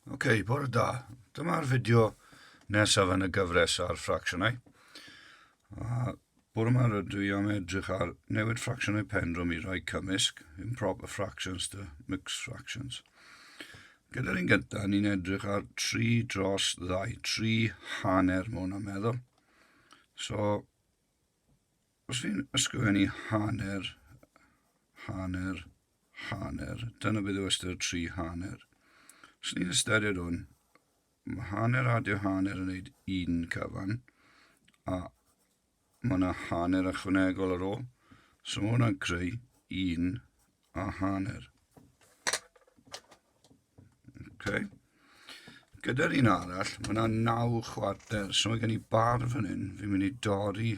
Ok, bore da. Dyma'r fideo nesaf yn y gyfres ar ffracsiynau. A bore yma rydw i am edrych ar newid ffracsiynau pendrwm i rai cymysg, improper fractions to mixed fractions. Gyda'r un gyntaf, ni'n edrych ar 3 dros 2, 3 hanner mwy na meddwl. So, Os fi'n ysgrifennu hanner, hanner, hanner, dyna beth yw ystyr tri hanner. Os ni'n ystyried hwn, mae hanner adio hanner yn gwneud un cyfan, a mae yna hanner ychwanegol ar ôl. So mae hwnna'n creu un a hanner. Okay. Gyda'r un arall, mae yna naw chwarter, so mae gen i bar fan hyn, fi'n mynd i dorri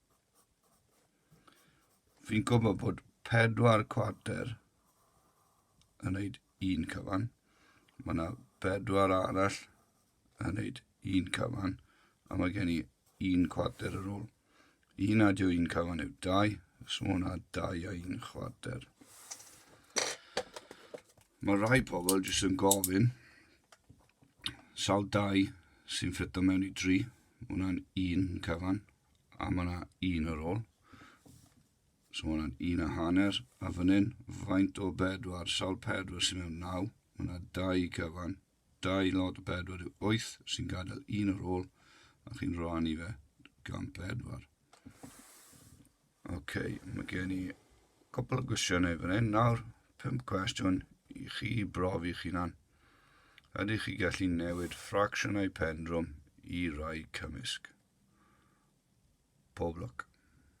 Fi'n gwybod bod pedwar cwarter yn neud un cyfan. Mae yna bedwar arall yn neud un cyfan. A mae gen i un cwarter ar ôl. Un adio un cyfan yw dau. So mae hwnna dau a un chwarter. Mae rhai pobl jyst yn gofyn sawl dau sy'n ffito mewn i dri. Mae hwnna'n un cyfan. A mae yna un ar ôl. So mae yna un a hanner. A fan hyn, faint o bedwar, sawl pedwar sy'n mewn naw. Mae yna dau cyfan. Dau lot o bedwar yw wyth sy'n gadael un ar ôl. A chi'n rhannu fe gan bedwar. Ok, mae gen i cwpl o gwestiynau fan hyn nawr. Pum cwestiwn i chi brof i'ch hunan. Ydych chi gallu newid ffracsiynau pendrwm i rai cymysg? Pob lwc.